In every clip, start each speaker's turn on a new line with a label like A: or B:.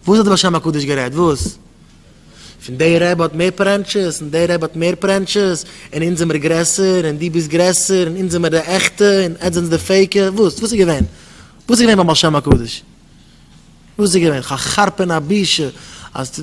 A: וואס האט די בעל שם הקדוש גערעדט? וואס? פון דער רבי האט מער פרענטשעס און דער רבי האט מער פרענטשעס און אונז זעמיר גרעסער און דו ביסט גרעסער און אונז זעמיר די עכטע און עטס זענטס די פעיקע? וואס? וואס איז געווען? וואס איז געווען ביים בעל שם הקדוש? וואס איז געווען? כ'חרפ און א בושה אז.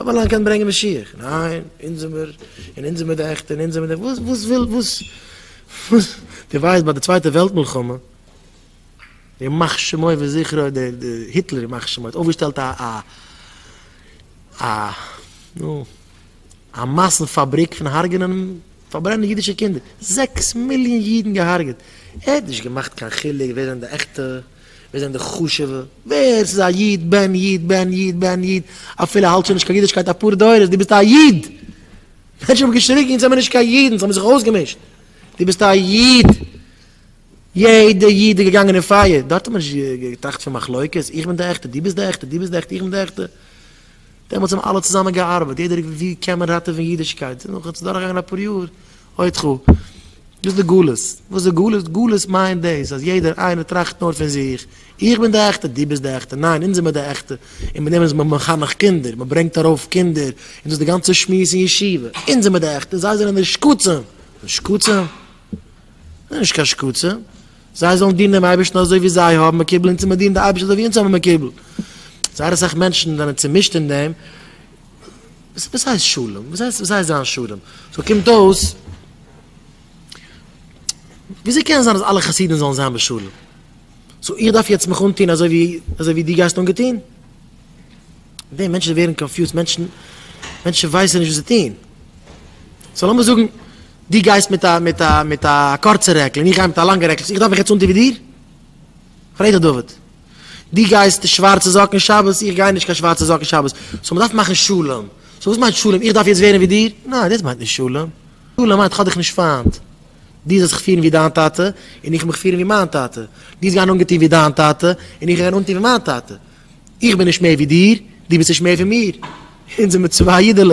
A: אויב אַלאַן קען ברענגען משיח, ניין, אונז זעמיר, און אונז זעמיר די עכטע, און אונז זעמיר די, וואָס, וואָס וויל, וואָס, וואָס, דו ווייסט ביי די צווייטע וועלט מלחמה, ימח שמו וזכרו, דער, דער היטלער ימח שמו האָט אויפגעשטעלט אַ, אַ, אַ, נו, אַ מאַסן פאַבריק פון הרגענען און פאַרברענען אידישע קינדער, זעקס מיליאָן אידן געהרגעט, ער האָט נישט געמאַכט קיין חילוק ווער זענען די עכטע. ווער זענען די חשוב'ע? ווער ס'איז א איד, בן איד, בן איד, בן איד, אפילו האלט שוין נישט קיין אידישקייט אפאר דורות, דו ביסט א איד! מענטשן האבן געשריגן, אונז זעמיר נישט קיין אידן, ס'האבן זיך אויסגעמישט, דו ביסט א איד! יעדע איד איז געגאנגען אין פייער, דארט האט מען נישט געטראכט פון מחלוקת, איך בין די עכטע, דו ביסט די עכטע, דו ביסט די עכטע, איך בין די עכטע. דעמאלטס האבן אלע צוזאמען געארבעט, יעדער האט געוואוסט ווי קען מען ראטעווען אידישקייט, נאכן ס'איז דורכגעגאנגען אפאר יאר, עוד כ. דאס איז די גלות. וואס איז גלות? גלות מיינט דאס אז יעדער איינער טראכט נאר פון זיך. איך בין די עכטע, דו ביסט די עכטע, ניין, אונז זעמיר די עכטע. און מיט דעם איז מען מחנך קינדער, מען ברענגט ארויף קינדער, און דאס איז די גאנצע שמועס אין ישיבה. אונז זעמיר די עכטע, זיי זענען די שקצים. די שקצים? זיי נישט קיין שקצים. זיי זאלן דינען דעם אייבערשטן אזוי ווי זיי האבן מקובל אונז און מיר דינען די אייבערשטן אזוי ווי אונז האבן מקובל. זייער אסאך מענטשן זענען צומישט אין דעם, וואס הייסט שלום? וואס הייסט וואס הייסט זיין שלום? סאו קומט אויס וויאזוי קען זיין אז אלע חסידים זאלן זיין בשלום? סאו איך דארף יעצט מיך אנטוהן אזוי ווי אזוי ווי דו גייסט אנגעטוהן? די מענטשן ווערן קאנפיוזט, מענטשן מענטשן ווייסן נישט וואס זיי טוהן. סאו לאמיר זאגן דו גייסט מיט א מיט א מיט א קורצע רעקל און איך גיי מיט א לאנגע רעקל, איך דארף מיך יעצט אנטוהן ווי דיר? פרעג דיך דוד, דו גייסט שווארצע זאקן שבת, איך גיי נישט קיין שווארצע זאקן שבת, סאו מ'דארף מאכן שלום, סאו וואס מיינט שלום, איך דארף יעצט ווערן ווי דיר? ניין דאס מיינט נישט שלום, שלום מיינט איך האב דיך נישט פיינט, דו זאלסט זיך פירן ווי דיין טאטע, און איך מיך פירן ווי מיין טאטע, דו זאלסט גיין אנגעטון ווי דיין טאטע, און איך גיי גיין אנטון ווי מיין טאטע, איך בין נישט מער ווי דיר, דו ביסט נישט מער פון מיר, אונז זעמיר צוויי אידעלעך.